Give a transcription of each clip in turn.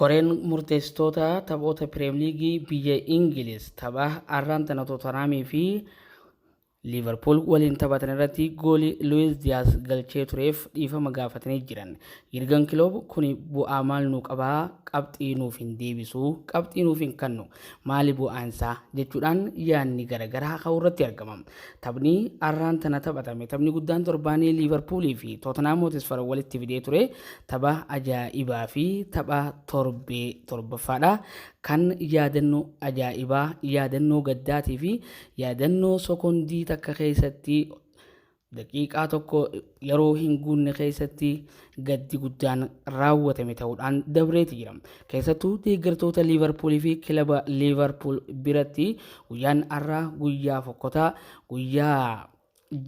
Koreen murteessitoota taphoota Piriimliigii biyya Ingiliz tapha arraan tana Tootanaamii fi Liivarpuul waliin taphatan irratti goolii Luwiis Diyaas galchee tureef dhiifama gaafatanii jiran. Yirgan Kiloob kun bu'aa maal nuu qabaa qabxii nuuf hin deebisu qabxii nuuf hin kannu maali bu'aan isaa jechuudhaan yaadni garaagaraa ka'uu irratti argama. Taphni arraan tana taphatame taphni guddaan torbaanii Liivarpuulii fi Tootanhaam Hootisfar walitti fidee ture tapha ajaa'ibaa fi tapha torbee torbaffaadha. Kan yaadannoo ajaa'ibaa, yaadannoo gaddaatii fi yaadannoo sekondii takka keessatti daqiiqaa tokko yeroo hin guunne keessatti gaddi guddaan raawwatame ta'uudhaan dabreeti jira. Keessattuu deeggartoota Liivarpuulii fi kilaba Liivarpuul biratti guyyaan har'aa guyyaa fokkotaa guyyaa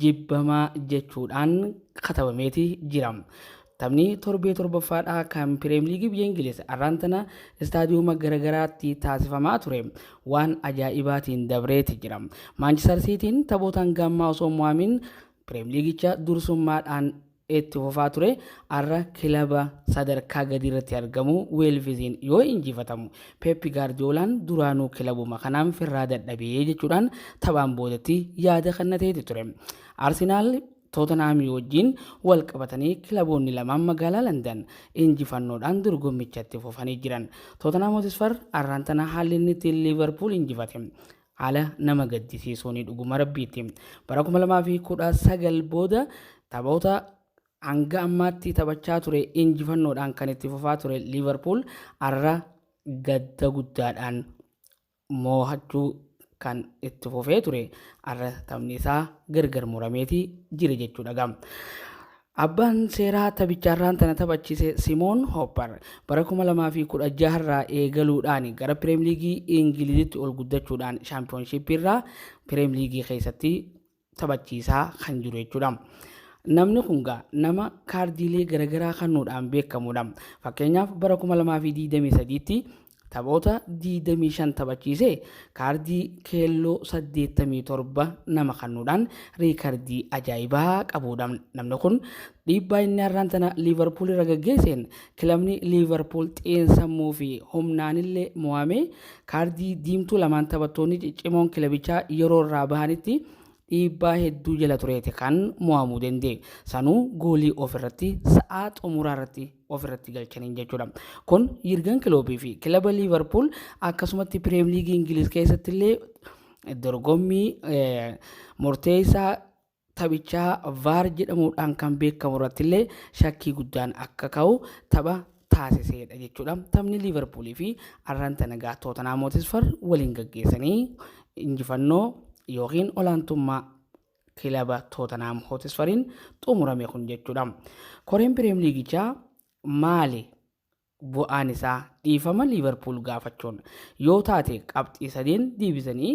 jibbamaa jechuudhaan katabameeti jira. Taphni torbee torbaffaadha kan Pirimeer Liigii biyya Ingiliz har'aan tana istaadiyooma garaagaraatti taasifamaa ture waan ajaa'ibaatiin dabreeti jira. Maanchister Siitiin taphoota hanga ammaa osoo hin mo'amin Pireemliigicha dursummaadhaan itti fufaa ture har'a kilaba sadarkaa gadii irratti argamu Weelviziin yoo injifatamu Peeppi Gaardiyoolaan duraanuu kilabuma kanaan firraa dadhabee jechuudhaan taphaan boodatti yaada kennateeti ture. Arsenaal Tootanhaamii wajjin wal qabatanii kilaboonni lamaan magaalaa Landan injifannoodhaan dorgommichatti fufanii jiran. Tootanhaam Hotisfar har'aan tana haalli inni ittiin Liivarpuul injifate Haala nama gaddisiisuun dhuguma rabbiitti bara 2019 booda taphoota hanga ammaatti taphachaa ture injifannoodhaan kan itti fufaa ture Liivarpuul har'a gadda guddaadhaan moohachuu kan itti fufee ture har'a taphni isaa gargar murameeti jira jechuudha. Abbaan seeraa taphicha har'aan tana taphachiise Simoon Hoppar bara 2016 irraa eegaluudhaan gara Pireem Liigii Ingilizitti ol guddachuudhaan shaampiyoonshiippii irraa Pireem Liigii keessatti taphachiisaa kan jiru jechuudha. Namni kun gaa nama kaardiilee garaagaraa kennuudhaan beekamudha. Fakkeenyaaf bara 2023tti Taphoota 25 taphachiisee kaardii keelloo 87 nama kennuudhaan riikardii ajaa'ibaa qabuudha. Namni kun dhiibbaa inni har'aan tana Liivarpuul irra gaggeesseen kilabni Liivarpuul xiinsammuu fi humnaanillee mo'amee kaardii diimtuu lamaan taphattoonni ciccimoon kilabichaa yeroo irraa bahanitti dhiibbaa hedduu jala tureeti kan mo'amuu danda'e. Sanuu goolii ofirratti sa'aa xumuraa irratti ofirratti galchaniin jechuudha. Kun Yirgan Kiloopii fi kilaba Liivarpuul akkasumatti Pirimeer Liigii Ingiliz keessatti illee dorgommii murteessaa taphichaa vaar jedhamuudhaan kan beekamu irratti illee shakkii guddaan akka ka'u tapha taasiseedha jechuudha. Taphni Liiverpuulii fi arran tana egaa Tootanaa Mootisfar waliin gaggeessanii injifannoo yookiin olaantummaa kilaba Tootanaa Mootisfariin xumurame kun jechuudha. Koreen Piriim Liigichaa maali bu'aan isaa dhiifama Liiverpuul gaafachuun yoo taate qabxii sadeen deebisanii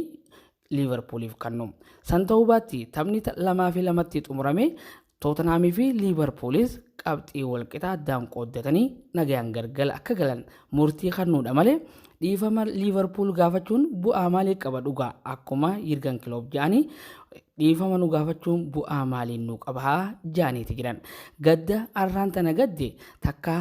Liivarpuuliif kannu. San ta'uu baatti taphni lamaa fi lamatti xumurame Tootanhaamii fi Liivarpuulis qabxii walqixaa addaan qooddatanii nagayaan gargala akka galan murtii kannuudha malee dhiifama Liivarpuul gaafachuun bu'aa maalii qaba dhugaa akkuma Yirgan Kiloob jedhanii dhiifama nu gaafachuun bu'aa maaliin nu qaba jedhaniiti jiran. Gadda arraan tana gadde takka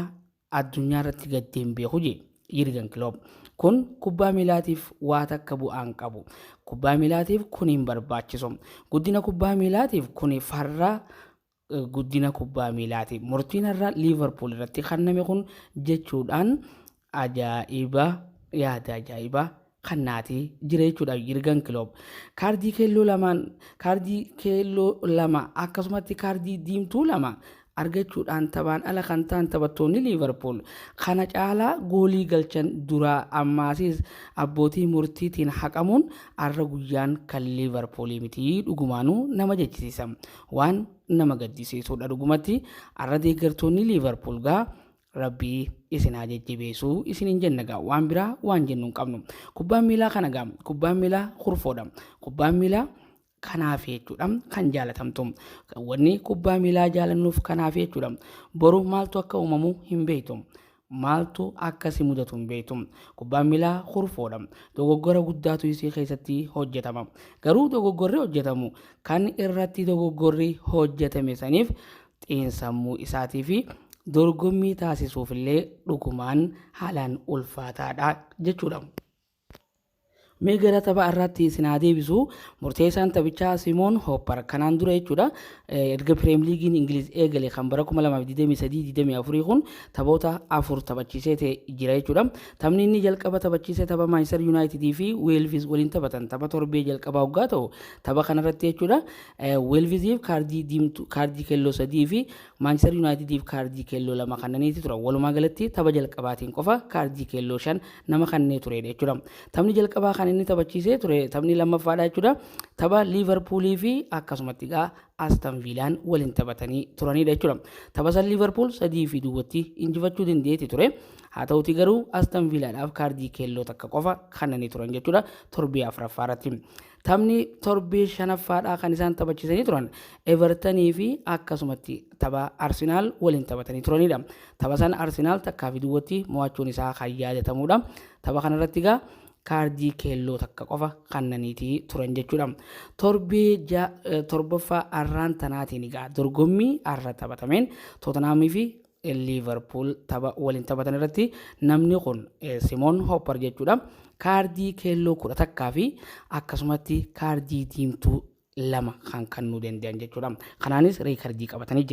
Addunyaarratti gaddee hin beeku jedhe Yirgen Kiloop. Kun kubbaa miilaatiif waa takka bu'aa hin qabu. Kubbaa miilaatiif kun hin barbaachisu. Guddina kubbaa miilaatiif kun farra guddina kubbaa miilaati. Murtiin har'a Liivarpuul irratti kenname kun jechuudhaan ajaa'iba yaada ajaa'ibaa kan naati jira jechuudha Yirgan Kiloob. Kaardii keelloo lamaan kaardii keelloo lama akkasumatti kaardii diimtuu lama argachuudhaan taphaan ala kan ta'an taphattoonni Liivarpuul kana caalaa goolii galchan duraa ammaasis abbootii murtiitiin haqamuun arra guyyaan kan Liivarpuulii miti dhugumaanuu nama jechisiisa. Waan nama gaddisiisuudha dhugumatti arra deeggartoonni Liivarpuul gaa Rabbii isin haa jajjabeessu isinin jenna gaa waan biraa waan jennu hin qabnu kubbaan miilaa kana gaa kubbaan miilaa kurfoodha kubbaan miilaa kanaaf jechuudha kan jaalatamtu wanni kubbaa miilaa jaalannuuf kanaaf jechuudha boru maaltu akka uumamu hin beektu maaltu akkasi mudatu hin beektu kubbaan miilaa kurfoodha dogoggora guddaatu isii keessatti hojjetama garuu dogoggorri hojjetamu kan irratti dogoggorri hojjetame saniif xiinsammuu isaatii fi dorgommii taasisuuf illee dhugumaan haalaan ulfaataadha jechuudha. Mee gara tapha irratti isin haa deebisu. Murteessaan taphichaa Simoon Hoppar kanaan dura jechuudha. Erga Pireem Liigiin Ingiliz eegale kan bara 2023-24 kun taphoota afur taphachiisee ta'e jira jechuudha. Taphni inni jalqaba taphachiise tapha Maanchister Yuunaayitidii fi Weelvis waliin taphatan tapha torbee jalqabaa hoggaa ta'u tapha kanarratti jechuudha. Weelviziif kaardii diimtuu, kaardii keelloo sadii fi Maanchister Yuunaayitidiif kaardii keelloo lama kannaniiti turan. Walumaa galatti tapha jalqabaatiin qofa kaardii keelloo shan nama kannee tureedha jechuudha. Taphni jalqabaa kan inni taphachiisee ture taphni lammaffaadha jechuudha. Tapha Liivarpuulii fi akkasumatti egaa Aston Viilaan waliin taphatanii turanidha jechuudha. Tapha san Liivarpuul sadii fi duwwatti injifachuu dandeetti ture. Haa ta'uti garuu Aston Viilaadhaaf kaardii keelloo takka qofa kannanii turan jechuudha. Torbee afraffaa irratti. Taphni torbee shanaffaadhaa kan isaan taphachiisanii turan Evertanii fi akkasumatti tapha Arsenaal waliin taphatanii turanidha. Tapha san Arsenaal takkaa fi duwwatti mo'achuun isaa kan yaadatamudha. Tapha kanarratti egaa kaardii keelloo takka qofa kannaniitii turan jechuudha. Torbee torbaffaa arraan tanaatiin egaa dorgommii arra taphatameen Tootanhaamii fi Liivarpuul tapha waliin taphatan irratti namni kun Simoon Hoppar jechuudha. Kaardii keelloo kudha takkaa fi akkasumatti kaardii diimtuu lama kan kannuu danda'an jechuudha. Kanaanis riikardii qabatanii jiran.